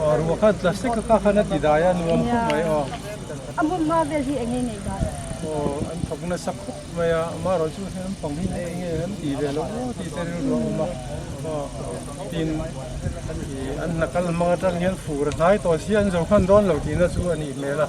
Aw, ruah khan plastic a kha khan a ti dai a, nuam khawp mai aw. A hmun hma vel hi eng nge nei dan? Aw, an thawk nasa khawp mai a, mah erawh chu hei nampang hi eng nge an ti ve lo aw tih te rilru a awm a, aw tin an hna kal hmang atang hian fur a hnai tawh si an zo khan dawn lo tihna chu a nih hmel a.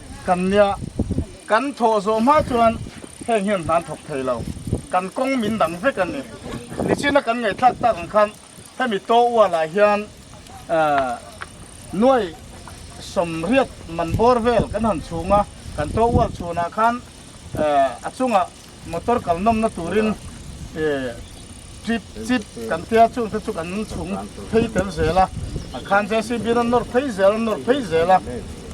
Kan nia kan thawh zawh hma chuan heng hian hlan thawk thei lo, kan kawng min dang vek a ni. Nichina kan ngaihthlak tak ang khan hemi Tawual ah hian nuai sawmriat man bawr vel kan han chhung a, kan Tawual chhunah khan a chungah, Motor kalnawmna turin chip chip kan tia chung te chu kan chhung phei tel zel a, khan JCB in a nawr phei zel a nawr phei zel a,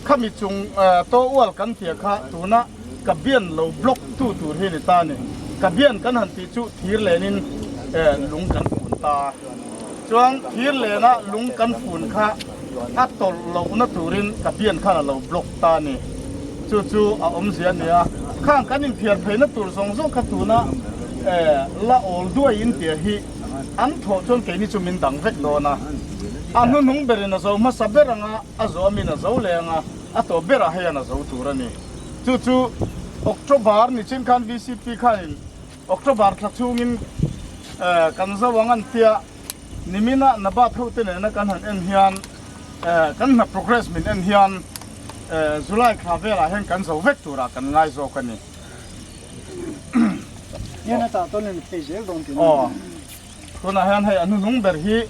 khami chung taw ual kan tia kha tuna ka bian lo block tu tur hi a ni ta a ni, ka bian kan han tih chu thir len in lung kan fun ta a, chuan thir lena lung kan fun kha. A tawrh lohna turin ka pian khan a lo block ta a ni. Chu chu a awmzia a nia. Khang kan inphiar pheina tur zawng zawng kha tuna eh la awl duai in tia hi an thawh chuan keini chu min dang vek dawn a. A hnuhnung berin a zo hmasa ber ang a, a zuamin a zo leh ang a, a tawh berah hei an a zo tur a ni. Chu chu October ni chin khan VCP khanin. October thla chungin kan zo ang an tia nimin a Nabat hote nena kan han en hian kan hna progress min en hian July thla velah hian kan zo vek tura kan ngai zawk a ni. Aw tunah hian hei a hnu hnung ber hi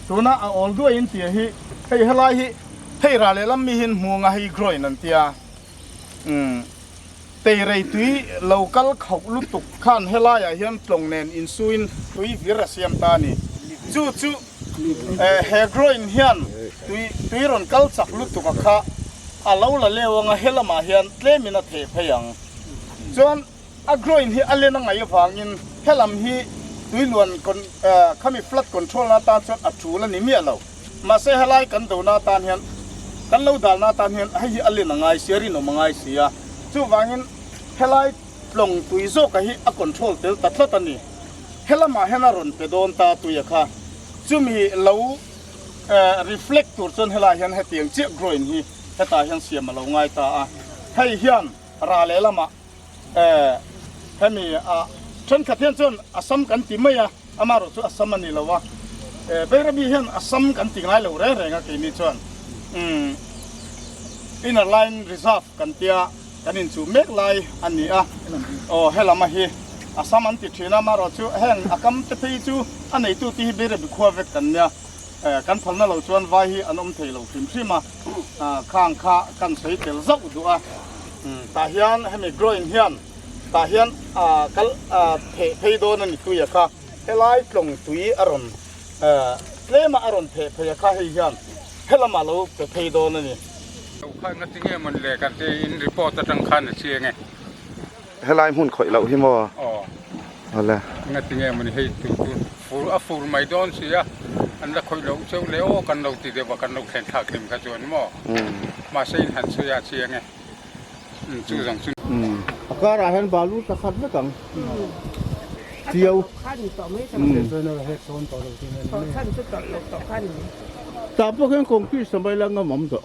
tuna a awl duai in tia hi hei helai hi hei rah lehlam mi hi in hmu anga hei groin an tia umm. Tei rei tui lo kal khauh lutuk khan helaiah hian tlawng nen insuiin tui vir a siam ta a ni. Chu chu he groin hian tui rawn kal chak lutuka kha a lo la leu ang a, he lamah hian tlemin a theh phei ang. Chuan a groin hi a len a ngaih avangin he lam hi tui luan khami flood control na tan chuan a tul a ni miah lo. Mahse, helai kan dona atan hian, kan lo dalna atan hian hei hi a len a ngai si a, a rinawm a ngai si a. Chuvangin helai tlawng tui zawkah hi a control tel ta tlat a ni. Helamah hian a rawn pe dawn ta tuia kha, chumi lo reflect tur chuan helai hian hetiang chiah grawin hi hetah hian siam a lo ngai ta a. Hei hian ral lehlamah Eh, hemi ah thenkhat hian chuan Assam kan ti mai a, amarawh chu Assam a ni lo a. Eh, Beirabi hian Assam kan ti ngai lo reng reng a, keini chuan umm Inner Line Reserve kan tia kan inchuh mek lai a ni a. Aw, helama hi Assam an ti thin a, amarawh chu heng a kam te phei chu a neitute hi Beirabi khua vek kan nia. Kan phalna lo chuan vai hi an awm thei lo hrim hrim a, khang kha kan sawi tel zauh duh a, tah hian hemi groin hian tah hian kal pheh phei dawn a ni tuia kha helai tlawng tui a rawn tlema a rawn pheh phei a kha hei hian helamah lo pe phei dawn a ni. Lo khatna tinge man le kan tih in report atang khan a chiang e. Helai hmun khawih loh hi maw? Aw. Aw le. Enga ti nge emawni hei chu chu fur a fur mai dawn sia an la khawih loh cheu le aw kan lo ti deuh a kan lo thlen thlak hlim kha chuan maw? Umm. Mahse in han sawi a chiang e. Umm chu zawng chu. Umm. A karah hian balu ta khat vek ang. Umm. Tio. Kha ni tawh mai chang. Umm. Sawi nara hek dawn tawh lo tih mai ni. Tawh chhan chu tawrh lo tawh kha ni. Tah pawh hian kawngpui sawmai la ngam awm tawh.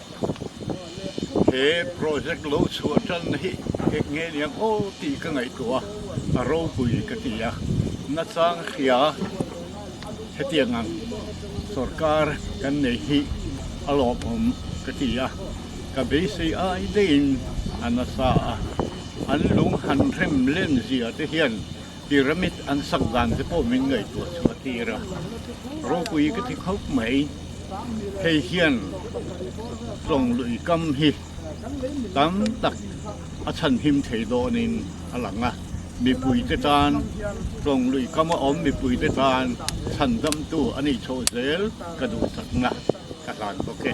he project lo chhuah tan hi hek nge ni ang aw tih ka ngaihtuah a a ropui ka ti a nachang hria hetiang ang sorkar kan nei hi a lawmawm ka ti a ka beisei ai daiin a nasa a an lung han rem len zia te hian Pyramid an sak dan te pawh min ngaihtuah chu a tir a, ropui ka ti khawp mai. Hei hian tlawng lui kam hi tam tak a chhanhim thei dawnin a lang a, mipui te tan tlawng lui kam a awm mipui te tan chhan damtu a nih chho zel ka duhsakna ka hlan bawk e.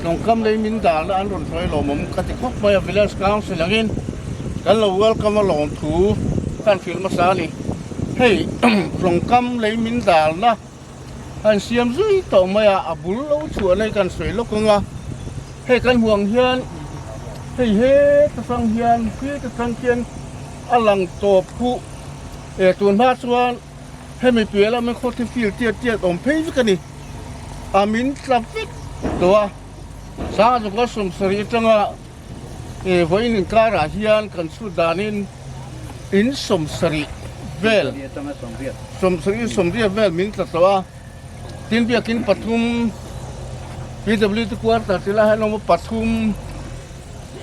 Tlawngkam lei min dalna an rawn hruai lawm awm ka ti khawp mai a, Village Council angin kan lo welcome a lawm thu ka han fill hmasa a ni. Hei tlawngkam lei min dalna a han siam zui tawh mai a, a bul lo chhuahna hi ka han sawi lawk ang a, hei kan hmuh ang hian hei heta sang hian heta sang khian a lang tawp phu, e tunhma chuan Hemi piah lam hi khaw thi fil tiat tiat awm phei vek a ni. A min tla vek tawh a. Sanga zunga sawmsarih atanga vawiin inkarah hian kan chhut danin in sawmsarih vel, sawmsarih sawmriat vel min tla tawh a. Tin biakin pathum PWD quarter te lah hian a awm a, pathum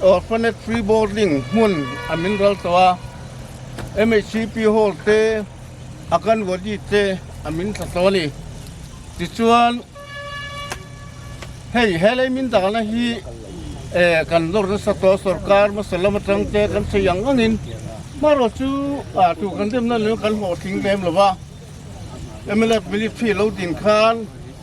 orphanage free boarding hmun a min ral tawh a. MHCP hall te Akanwadi te a min thla hlawh a ni. Tichuan hei helai min dana hi kan nawr nasa tawh a, sorkar hmasa lam atang te kan sawi ang angin hmarual chu tu kan demna nena kan hlawhtling ve em lo va, MLF minute khi a lo din khan,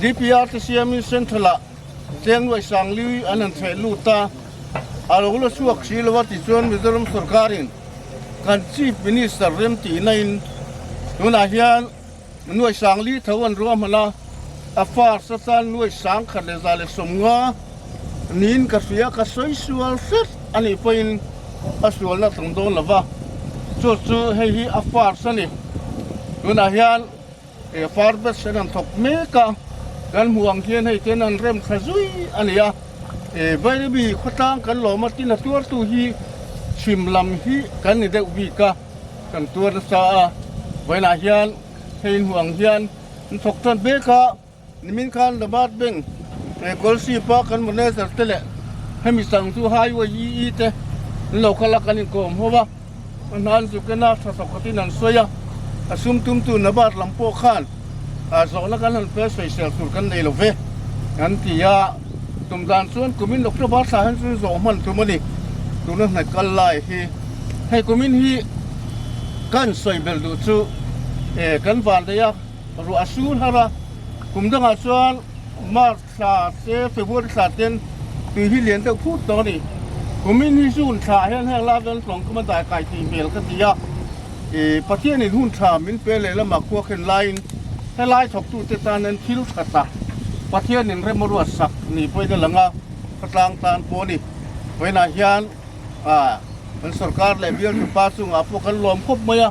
DPRC siamin Central ah Tlengruai Sangliui an han chheh lut a, a lo la chhuak hrih lo a tichuan Mizoram sawrkarin kan Chief Minister remtihna in tunah hian Nuai Sangli tho an ruahman a, a far sa chuan Nuai Sang khat leh za leh sawmnga niin ka hria ka sawi sual hret a nih pawhin a sualna a tlang dawn lo va, chutah chu hei hi a far sa a ni tunah hian. He far batch an han thawk mek a, kan hmuh ang hian hei ten an rem thla zui a ni a, he Vairabi khawtlang kan lawm a tin a tuartu hi chhim lam hi kan ni deuh bik a kan tuar nasa a, vawiinah hian hei inhmuh ang hian an thawk tan mek a. Nimin khan The Mart Bank he Golship a kan manager te leh hemi sang chu Highway EE te an lo kal a, kan inkawm ho a, a hnan zuk en a tha sawkhat in an sawi a, a sum tumtu Nabat lam pawh khan zawhna kan han fel sawi sial tur kan nei lo ve an ti a, tum dan chuan kumin October thla hian chu zawh hman tum a ni, tuna hnaih kal lai hi hei kumin hi kan sawi belh duh chu kan vandeih a. Ruah a su hlar a, kum dangah chuan March thla se February thla ten tui hi lian deuh phut lo a ni. Kumin hi June thlah hian heng la veng tlawngkama daikai tih hmel ka ti a. Pathianin hun tha min pe lehlamah khuakhen laiin helai thawktute tan hian thil that a Pathianin rem a ruat sak ni pawhin a lang a, khatlang tan pawh a ni. Vawiinah hian kan sorkar leh bialthu pa chungah pawh kan lawm khawp mai a.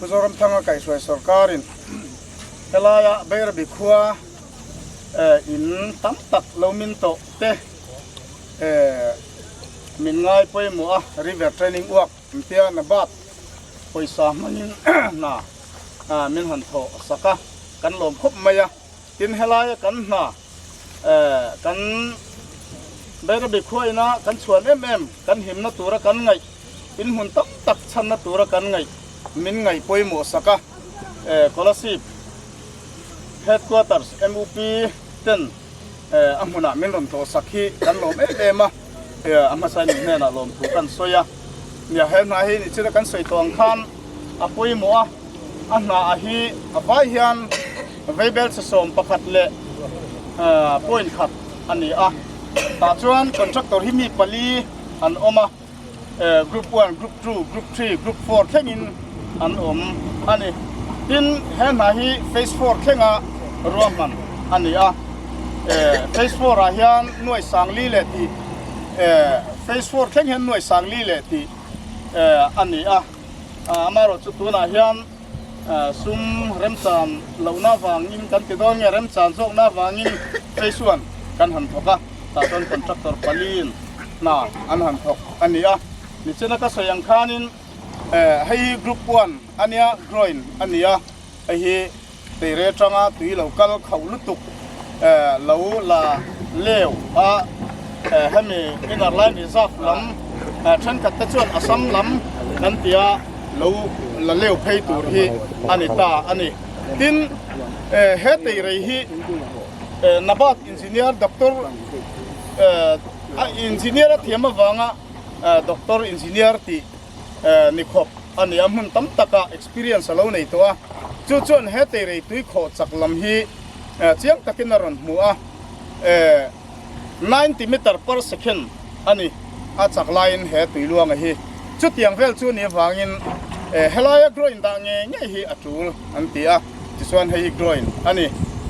Mizoram Thanga Kaihhruai Sawrkarin helaia Beirabi khua in tam tak lo min tawh te min ngai pawimawh a, river training uak entia Nabat pawisa hmangin hna min han thawh sak a, kan lawm khawp mai a, tin helaia kan hna. Kan Bairabi khuaina kan chhuan em em, kan himna tura kan ngaih, inhmun tam tak chhanna tura kan ngaih, min ngaih pawimawh sak a, Kolasib Headquarters MUP ten a hmunah min rawn tlawh sak hi kan lawm em em a, a hmasa hi nih hnenah lawm thu kan sawi a, nia he hna hi nih chila kan sawi tawh ang khan. a pawimawh a, a hnaah hi a vai hian veibel chi sawm pakhat leh point khat a ni a, tah chuan contractor hi mi pali an awm a, group one, group two, group three, group four thlengin an awm a ni. Tin, he hna hi phase four thlenga ruahman a ni a, phase four ah hian Nuaisangli leh tih phase four thleng hian Nuaisangli leh tih. a ni a, amaherawh chu tunah hian sum remchan lohna vangin kan ti dawn nge remchan zawkna vangin cheisuan kan han thawk a, tah chuan contractor paliin hna an han thawk a ni a, ni chena ka sawi ang khanin hei hi group one ania groin a ni a, hei hi Beire atanga tui lo kal khauh lutuk lo la leu a hemi Inner Line Reserve lam thenkhat te chuan Assam lam kan tia lo la leu phei tur hi a ni ta a ni. Tin, he teirei hi Nabat Engineer Doctor a Engineer a thiam avanga Doctor Engineer tih nikhawp a ni a, hmun tam taka experience a lo nei tawh a, chu chuan he teirei tui khawh chak lam hi chiang takin a rawn hmu a, ninety metre per second a ni a chak laiin he tui luanga hi, chutiang vel chu ni avangin helaia groin dah nge ngei hi a tul an ti a, tichuan hei hi groin a ni,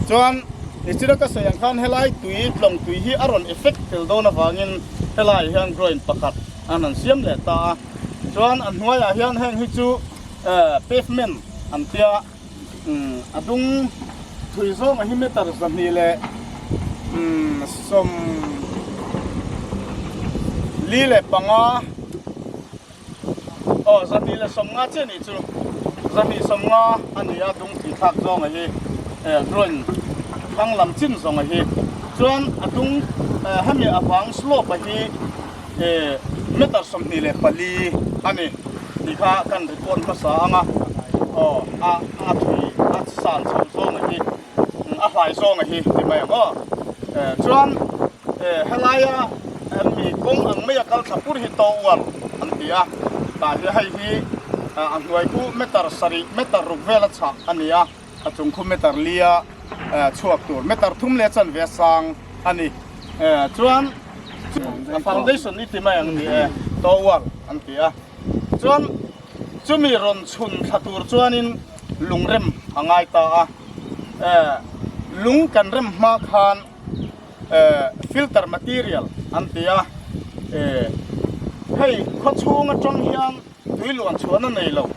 chuan i sira ka sawi ang khan helai tui tlawng tui hi a rawn effect fel dawn avangin helai hian groin pakhat, An an siam leh ta a, chuan a hnuaiah hian heng hi chu pavement an tia, a dung thui zawngah hi meter zahnih leh sawm li leh panga, aw zahnih leh sawm nga chiah ni chu, zahnih sawm nga a ni a dung thui thlak zawngah hi drawn thlang lam chin zawngah hi, chuan a dung hemi a vang slope ah hi e meter sawmhnih leh pali a ni tih kha kan report hmasa ang a, aw a a thui a san chho zawng a hi a hlai zawng a hi ti mai ang aw e chuan e helaia mi kawng ang maia kal thla pur hi to uar an ti a tah hian hei hi a hnuai chu meter sarih meter ruk vel a chhak a ni a. A chungkhu meter lia chhuak tur meter thum leh chanve sang a ni. Chuan a foundation i ti mai ang ni e, tower an ti a. Chuan chumi rawn chhun thla tur chuanin lungrem a ngai ta a. Lung kan rem hma khan filter material an ti a. Hei khawchhung atang hian. Tui luan chhuahna nei lo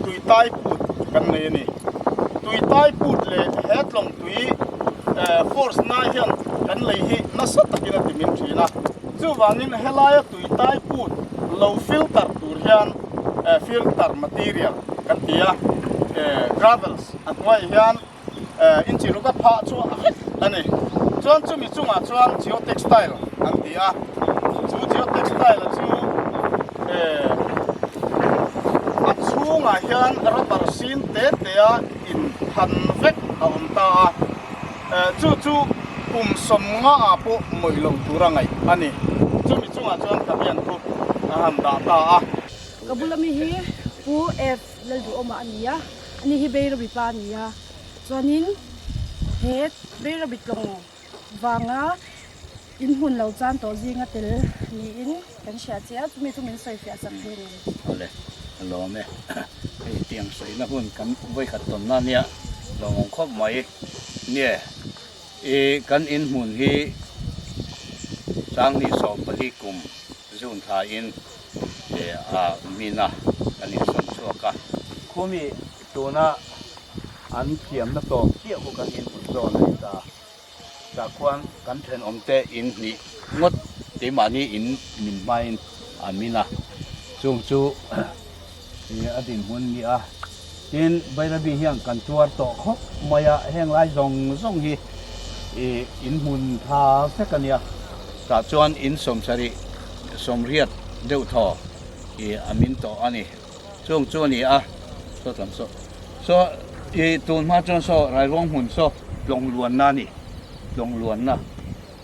tui tai put kan nei a ni. Tui tai put leh he tlawng tui force nai hian kan lei hi nasa takin a ti min thin a. Chuvangin he laia tui tai put lo filter tur hian filter material kan ti a, gravels a hnuaia hian Inchihluka phah chu a hek a ni. Chuan chumi chungah chuan geotextile an ti a. Chu geotextile chu a chhungah hian rubber sin te te a in phan vek a awm ta a. Chu chu kum sawmnga ah pawh mawih lo tur a ngaih a ni. Chumi chungah chuan ka rian thup a han dah ta a. Ka bula mi hi Pu F. Lal duh awmah a ni a, a ni hi Beira mipa a ni a, chuanin he Beira bitlawng vanga inhmun lo chan tawh zinga tel niin kan hria che a, chumi chu min sawi fiah chak hi a ni. Awle, a lawm e, hei tiang sawiina hun kan vawi khat tawn nan hi a lawm ang khawp mai nia e, i kan inhmun hi Changni sawm pali kum June thain, leh mina kan insawn chhuak a. Khumi tuna an thiamna tawp chiah hi kan inhmun zawh a ni ta a, tah khuan kan thenawmte in hnih ngawt keimahni in min hmain a min a, chung chu Tih a dinhmun ni a. Tin, Bairabi hian kan tuar tawh khawp mai a, heng lai zawng zawng hi in hmun tha vek a nia. Tah chuan in sawm sarih, sawm riat deuh thaw a min tawh a ni. Chung chu a ni a, saw tlâng saw. Saw i tun hma chuan saw rairuang hmun saw tlawng luanna a ni, tlawng luanna.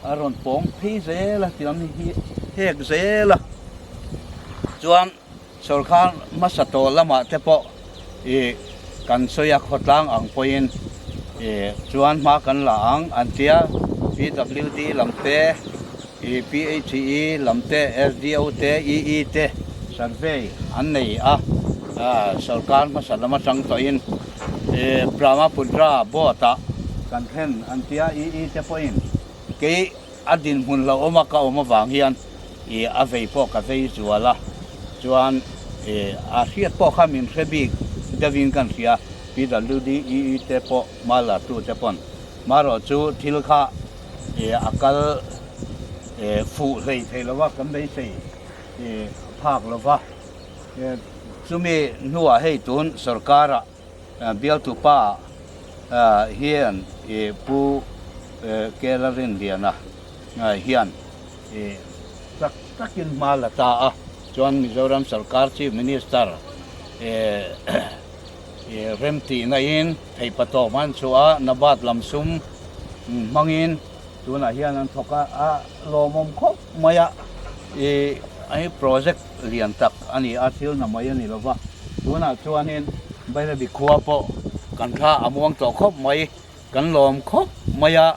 A rawn pawng phei zel a, tiang hi hek zel a. Chuan. Sorkar hmasa tawh lamah te pawh i kan sawi a, khawtlang ang pawhin i chuan hma kan la ang an ti a. PWD lam te, i PHE lam te, SDO te, EE te survey an nei a, sorkar hmasa lam atang tawhin i Brahmapudra Board-ah kan thlen an ti a, EE te pawhin kei A dinhmun hlauhawm a ka awm avang hian i a vei pawh ka vei zual a, chuan i a hriat pawh kha min hre bik deuhin kan hria. PWD EE te pawh hma lartu te pawn hma rawh chu thil kha i a kal i fuh hlei theih lo va, kan beisei i phak lo va. Chumi hnuah hei tun sorkar ah, Bialtu pa hian Pu Kela Rinliana hian chak chakin hma la ta a, chuan Mizoram Sarkar Chief Minister remtihna in Theipa Tawhman chu a Nabat lam sum hmangin tunah hian an thawk a, a lawmawm khawp mai a, i project. lian tak a ni a, thil na mai a ni lova, tunah chuanin Bairabi khua pawh kan thla a muang tawh khawp mai, kan lawm khawp mai a,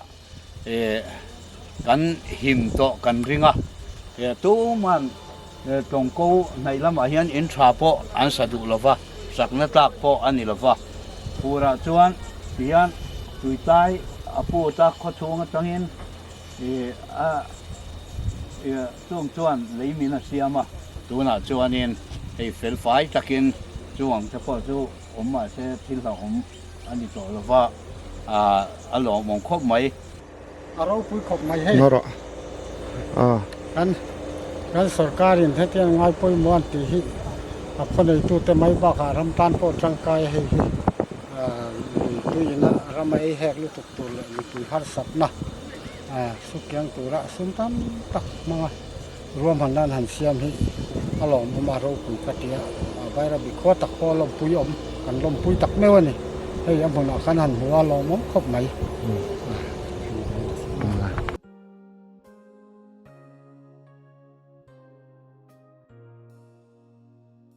kan him tawh kan ring a, tuma'n Tawngkaw hnaih lamah hian in tha pawh an sa duh lova, sakna tlak pawh a ni lova, purah chuan tihian Tuitai a put a, khawchhung atangin a. Chûng chuan lei min a siam a. Tûnah chuanin hei fel fai takin chu ang te pawh chu awm mah se thil hlauh awm a ni tawh lo va, ah, a lawmawm khawp mai. A ropui khawp mai hei. Nor ah, ah. Kan, kan sorkarin hetiang ngai pawimawh an tih hi a khawneitute mai bakah ram tan pawh tangkaia hei hi, ah, lui tuiin a ram a ei hek lutuk tur leh mipui harsatna, Saw kiang tura sum tam tak hmang a ruamhan nan han siam hi a lawm awm a ropui ka ti a vaira bik khuat tak pawh a lawmpui awm kan lawmpui tak meuh a ni hei a hmunah khan han hmu a lawm awm khawp mai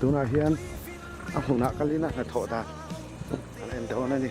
Tunah hian a hmunah ka lina hnathawh dan a la en dawn a ni.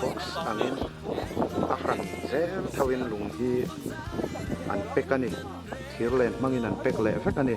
Box angin a hran zel thoin lung hi an pack a ni thir len hmangin an pack leh vek a ni.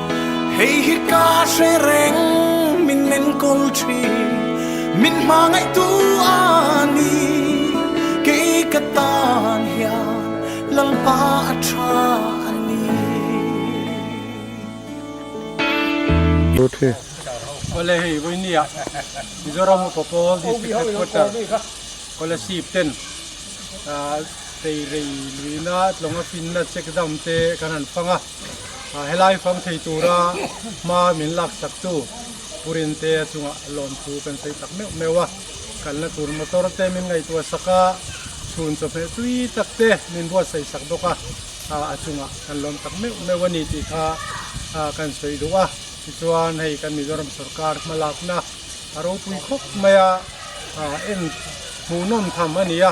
Hei hi ka hre reng min enkawl thin min hma ngaihtu a ni kei ka tan hian lalpa a tha a ni. Awle hei vawinia Mizoram upa pawl district headquarter scholarship ten ah tei rei luina tlawng a finna check dam te kan han fang a. Helai fang thei tura hma min laksak chu Purin te a chunga lawn chu kan sawi tak meuh meuh a, kalna tur motor te min ngaihtuah sak a, chhun chawhmeh tui tak te min buatsaih sak bawk a, a chunga kan lawm tak meuh meuh a ni tih kha kan sawi duh a, tichuan hei kan Mizoram sawrkar hma lakna a ropui khawp mai a, en hmuhnawm tham a ni a.